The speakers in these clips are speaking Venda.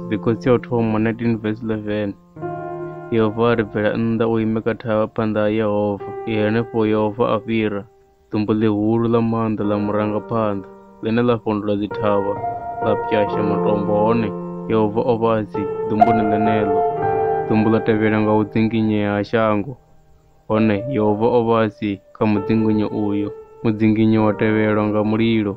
Mbikotsi ya u thoma 19 verse 11 Yehova a ri bvela nnḓa u ime kha thavha phanḓa ha Yehova. I henefho Yehova a fhira ḓumbu ḽihulu ḽa maanḓa ḽa murangaphanḓa, ḽine ḽa fhondula dzithavha, ḽa pwyasha matombo, hone Yehova o vha a si ḓumbuni ḽeneḽo. Ḓumbu ḽa tevhela nga u dzinginyea ha shango. Hone Yehova o vha a si kha mudzinginyo uyo. Mudzinginyo wa tevhelwa nga mulilo.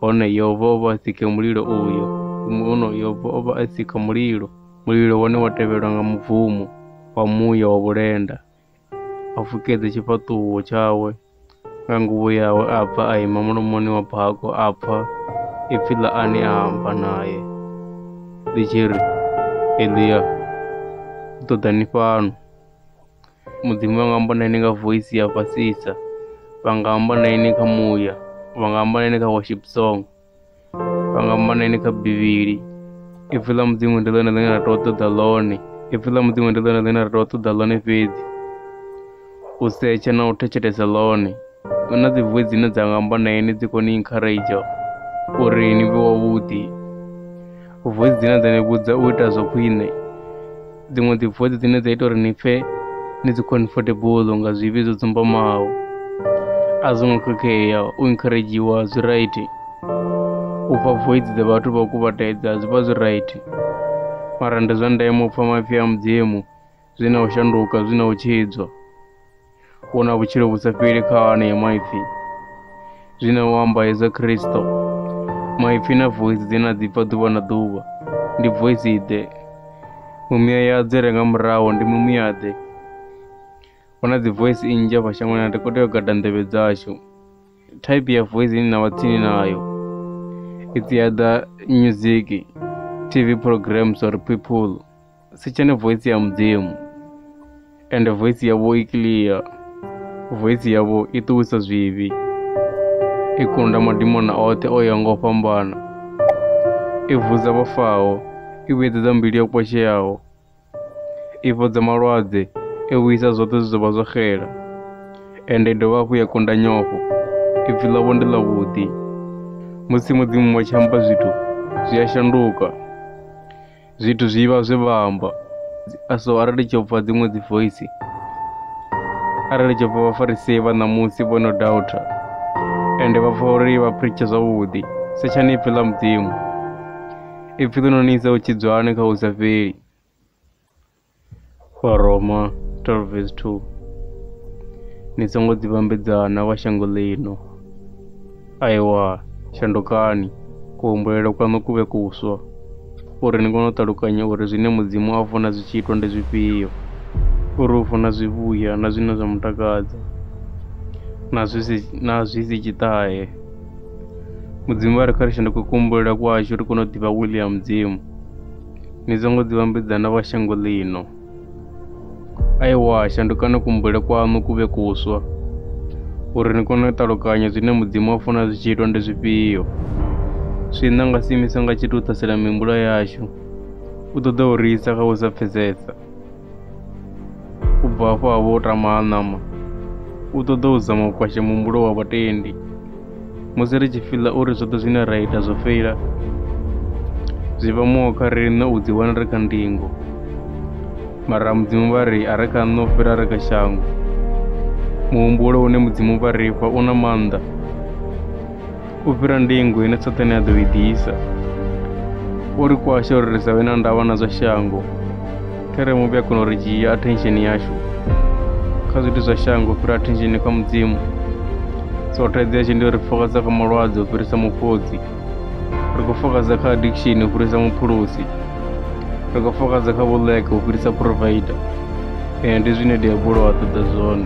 Hone Yehova o vha a si khe mulilo uyo. Huno Yehova o vha a si kha mulilo. Mulilo wone wa tevhelwa nga mubvumo wa muya wa vhulenda, a fukedza tshifhaṱuwo tshawe. nga nguvho yawe a bva a ima mulomoni wa bako a pfa ipfi ḽa ane a amba naye ḽi tshi ri elia u ṱoḓa ni fhano mudzimu vha nga amba na ine nga voisi ya fhasisa vha nga amba na ine kha muya vha nga amba na ine kha worship song pangamaneni kha bivhili ipfi ḽa mudzimu ndi ḽone ḽine ra tea u ṱoḓa ḽone ipfi ḽa mudzimu ndi ḽone ḽine ra tea u ṱoḓa ḽone fhedzi u setsha na u thetshelesa ḽone hu na dzi voi dzine dza nga amba na ini dzi kone encourage uri ni vhe wavhuḓi Voice dzine dza ni vhudza u ita zwa khwine dziṅwe dzi voice dzine dza ita uri ni pfhe ni dzi comfortable nga zwivhi zwo dzumbamaho a zwo ngo khakhea u encouragiwa zwi right u pfha voice dza vhathu vha u kuvhatedza zwi vha zwi right mara ndi zwa ndeme u pfha maipfi a mudzimu zwi na u shanduka zwi na u tshidzwa u na vhutshilo vhu sa fheli kha anea maipfi zwi na u amba hezwa khristo maipfi na voice dzi na dzi bva ḓuvha na ḓuvha ndi voice ḓe mumiya ya dzi renga muraho ndi mumiya ḓe hu na dzi voice nnzhi afha shangoni na ri khou tea u gada nḓevhe dzashu type ya voice ine na vha tsini nayo it's either music tv programs or people si tshene voice ya mudzimu ende voice yavho i clear voice yavho i ṱuwisa zwivhi i kunda madimona oṱhe o ya nga u fhambana i vhudza vhafaho i vhuyedzedza mbilu yo kwasheaho i fhodza malwadze i vhuyisa zwoṱhe zwi zwo vha zwo xela ende i dovha hafhu ya kunda nyofho ipfi ḽavho ndi ḽavhuḓi musi mudzimu wa tshi amba zwithu zwi a shanduka Zwithu zwi vha zwe vha amba so arali tsho pfa dziṅwe dzi voice arali tsho pfa vhafarisei vha ṋamusi vho no doubter ende vha pfa uri vha preache zwavhuḓi setshani ipfi ḽa mudzimu ipfi ḽi no ni isa u tshidzwani kha u sa fheli Vharoma 12 vesi 2 Ni songo dzi vhambedza na vha shango ḽino. Aewa, shandukani, kuhumbulele kwaṋu ku vhe kuswa, uri ni kone u ṱalukanya uri zwine Mudzimu a funa zwi tshi itwa ndi zwifhio, uri u funa zwivhuya na zwine zwa mu takadza, na zwi si, na zwi si tshiṱahe. Mudzimu vha ri kha ri shanduke kuhumbulele kwashu ri kone u ḓivha wili ya Mudzimu. ni dza ngo ḓivhambedza na vha shango ḽino. Aiwa, shandukani kumbule kwaṋu ku vhe kuswa, uri ni kone u ṱalukanya zwine Mudzimu a funa zwi tshi itwa ndi zwifhio. Swiṋa nga si imisa nga tshithu u ṱhasela mihumbulo yashu, u ṱoḓa u ri isa kha u sa pfesesa. u bva afho a vho o tama a ṋama u ṱoḓa u zama u kwasha muhumbulo wa vhatendi musi ri tshi fiḽa uri zwoṱhe zwine ra ita zwo feila zwi vha muho kha riṋe u ḓiwana ri kha ndingo mara mudzimu vha ri a ri kha nṋe u fhira ri kha shango muhumbulo une mudzimu vha ri fha u na maanḓa u fhira ndingo ine Saṱane a ḓo i ḓisa. O ri kwasha uri ri sa vhe na ndavha na zwa shango. Khere muvhi a kona u ri dzhia attention yashu kha zwithu zwa shango u fhira attention kha mudzimu. So thaidzo yashu ndi uri fokaza kha malwadze u fhirisa mufhodzi. Ri khou fokaza kha addiction u fhirisa muphulusi. Ri khou fokaza kha vhuḽeke u fhirisa provider. Ee, ndi zwine diabulo a ṱoḓa zwone.